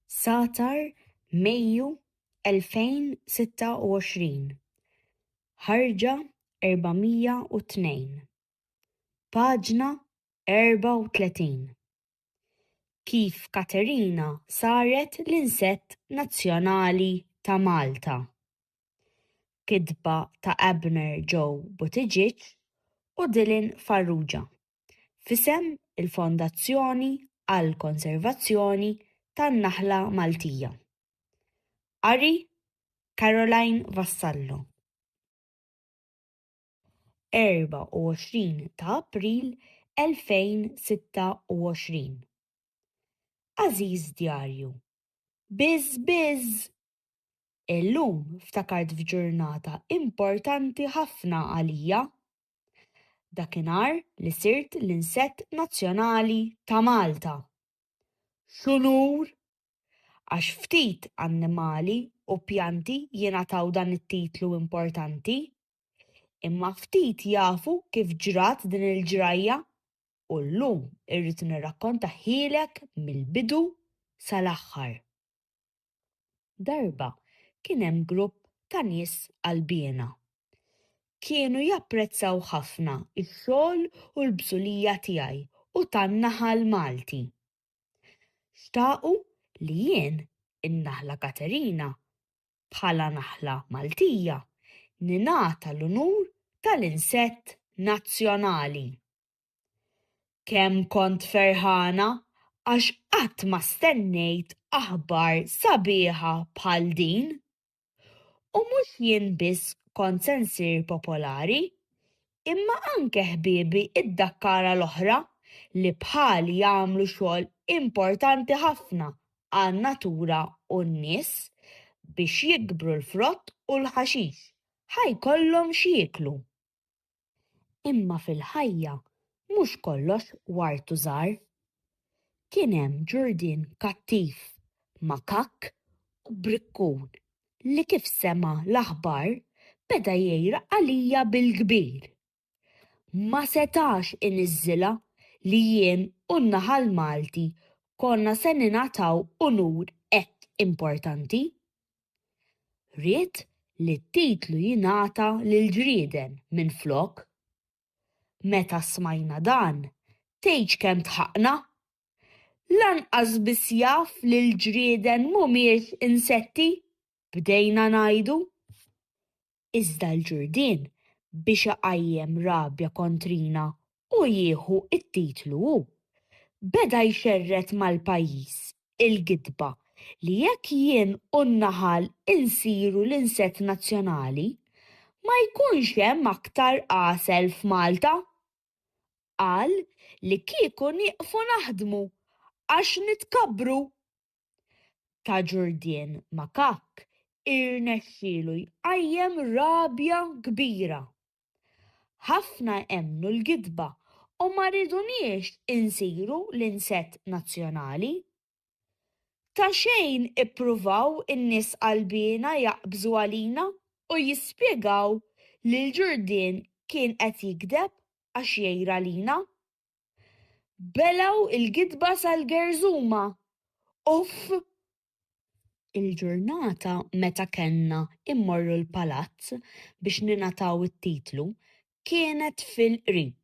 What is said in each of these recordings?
Satar, Mejju 2026, ħarġa 402, paġna 34, Kif Katerina saret l-insett nazzjonali ta' Malta. Kitba ta' Abner Joe Buttigieg u Dylan Farrugia. f'isem il-Fondazzjoni għall-Konservazzjoni tan-Naħla Maltija. Qari, Caroline Vassallo. 24 ta' April 2026 Għażiż Djarju, Bizz bizz! Illum ftakart f'ġurnata importanti ħafna għalija. Dakinhar li sirt l-insett nazzjonali ta' Malta. X'unur! Għax ftit annimali u pjanti jingħataw dan it-titlu importanti. Imma ftit jafu kif ġrat din il-ġrajja u llum irrid nirrakkontahielek mill-bidu sal-aħħar. Darba kien hemm grupp ta' nies qalbiena. Kienu japprezzaw ħafna x-xogħol u l-bżulija tiegħi u tan-naħal Malti. Xtaqu li jien, in-naħla Katerina, bħala naħla Maltija, ningħata l-unur tal-insett nazzjonali. Kemm kont ferħana għax qatt ma stennejt aħbar sabiħa bħal din! U mhux jien biss kont se nsir popolari, imma anke ħbiebi d-Dakkara l-oħra li bħali jagħmlu xogħol importanti ħafna għan-natura u n-nies biex jikbru l-frott u l-ħaxix, ħa jkollhom x'jieklu. Imma fil-ħajja mhux kollox ward u żahar. Kien hemm ġurdien kattiv, makakk u brikkun li kif sema' l-aħbar beda jgħira għalija bil-kbir. Ma setax iniżżilha li jien u n-naħal Malti konna se ningħataw unur hekk importanti. Ried li t-titlu jingħata lill-ġrieden minflok. Meta smajna dan, tgħidx kemm dħaqna! Lanqas biss jaf li l-ġrieden mhumiex insetti, bdejna ngħidu. iżda l-ġurdien biex iqajjem rabja kontrina u jieħu t-titlu hu. Beda jxerred mal-pajjiż il-gidba li jekk jien u n-naħal insiru l-insett nazzjonali, ma jkunx hemm aktar għasel f'Malta. Qal li kieku nieqfu naħdmu għax nitkabbru! ta' Ġurdien Makakk irnexxielu jqajjem rabja kbira. Ħafna emmnu l-gidba u ma riduniex insiru l-insett nazzjonali. Ta' xejn ippruvaw in-nies qalbiena jaqbżu għalina u jispjegaw li l-Ġurdien kien qed jigdeb għax jgħir għalina. belgħu l-gidba sal-gerżuma. Uff! Il-ġurnata meta kellna mmorru l-palazz biex ningħataw it-titlu kienet fil-qrib.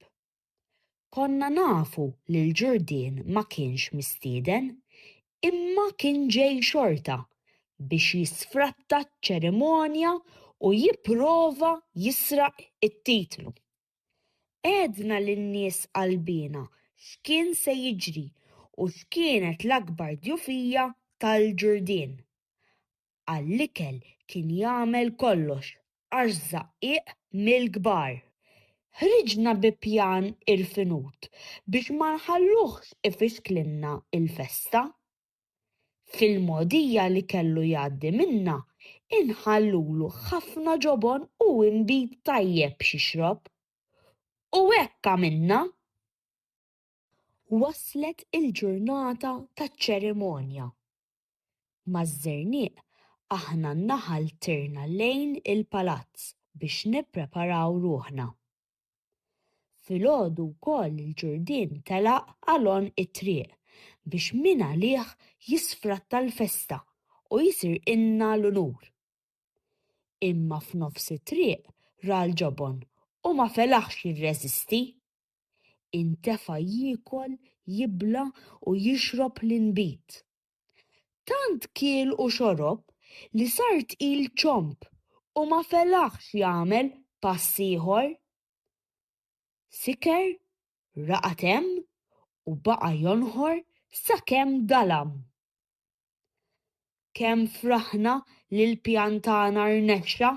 Konna nafu li l-Ġurdien ma kienx mistieden, imma kien ġej xorta biex jisfratta ċ-ċerimonja u jipprova jisraq it-titlu. Għedna lin-nies qalbiena x'kien se jiġri u x'kienet l-akbar djufija tal-Ġurdien. Għall-ikel kien jagħmel kollox għax żaqqiq mill-kbar. Ħriġna bi pjan irfinut biex ma nħalluhx ifixklilna l-festa. Fil-mogħdija li kellu jgħaddi minnha inħallulu ħafna ġobon u inbid tajjeb x'jixrob. U hekk għamilna! Waslet il-ġurnata taċ-ċerimonja. Maż-Żernieq aħna n-naħal tirna lejn il-palazz biex nippreparaw ruħna. Filgħodu wkoll il-Ġurdien telaq għalonn it-triq biex min għalih jisfratta l-festa u jsirqilna l-unur. Imma f'nofs it-triq ra l-ġobon u ma felaħx jirreżisti. Intefa' jiekol, jibla' u jixrob l-inbid. Tant kiel u xorob li sar tqil ċomb u ma felaħx jagħmel pass ieħor. Siker, raqad hemm u baqa' jonħor sakemm dalam. Kemm fraħna li l-pjan tagħna rnexxa!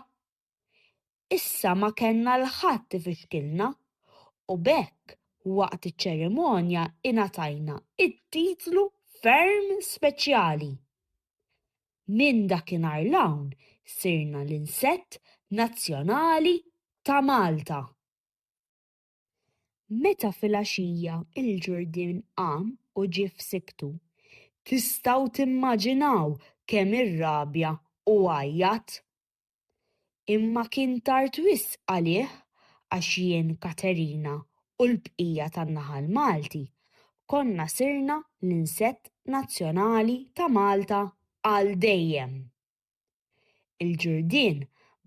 Issa ma kellna 'l ħadd ifixkilna u b'hekk waqt iċ-ċerimonja ingħatajna t-titlu ferm speċjali. Minn dakinhar 'l hawn sirna l-insett nazzjonali ta' Malta. Meta filgħaxija l-ġurdien qam u ġie f'sikktu, tistgħu timmaġinaw kemm irrabja u għajjat! Imma kien tard wisq għalih għax jien, Katerina u l-bqija tan-naħal Malti konna sirna l-insett nazzjonali ta' Malta għal dejjem. Il-ġurdien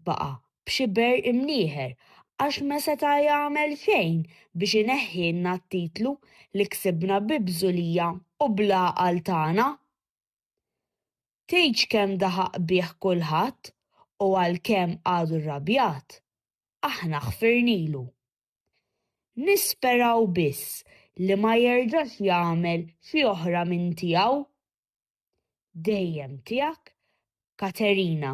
baqa' b'xi berq imnieħer għax ma seta' jagħmel xejn biex ineħħilna t-titlu li ksibna bi bżulija u bl-għaqal tagħna. Tgħidx kemm daħaq bih kulħadd u għalkemm għadu rrabjat, aħna ħfirnilu. Nisperaw biss li ma jerġax jagħmel xi oħra minn tiegħu. Dejjem tiegħek Katerina.